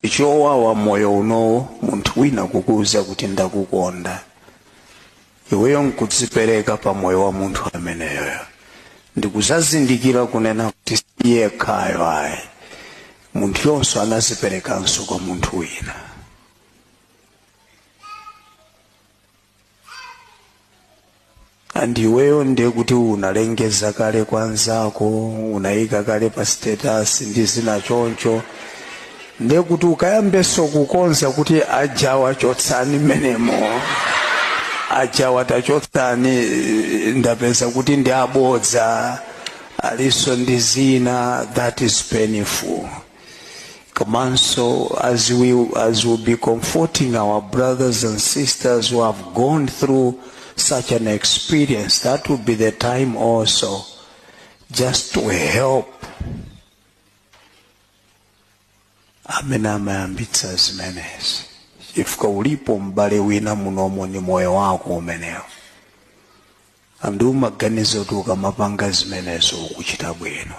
ndi chowawa moyo unowo munthu wina kukuuza kuti ndakukonda iweyo nkudzipereka pa moyo wa munthu ameneyoyo ndikuzazindikira kunena kuti si yekhayo ayi munthuyonso anaziperekanso kwa munthu wina andiweyo ndiye kuti unalengeza kale kwa nzako unayika kale pa status ndi zina choncho ndiye kuti ukayambeso kukonza kuti ajawa chotsani m'menemo ajawa tachotsani ndapeza kuti ndi abodza aliso ndi zina that is painful komanso as we as we'll be comforting our brothers and sisters who have gone through such an experience that will be the time also just to help amene amayambitsa zimenezi chifukwa ulipo m'bale wina munomo ni moyo wako umenewo ndi umaganiza kuti ukamapanga zimenezo ukuchita bwino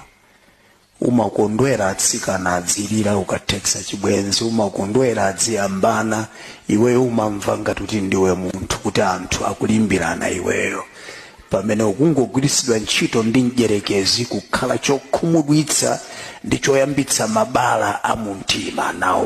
umakondwera atsikana adzilira ukathetsa chibwenzi umakondwera adziyambana iweyo umamva ngati kuti ndiwe munthu kuti anthu akulimbirana iweyo pamene ukungogwiritsidwa ntchito ndi mdyerekezi kukhala chokhumudwitsa ndi choyambitsa mabala a mumtima mwawo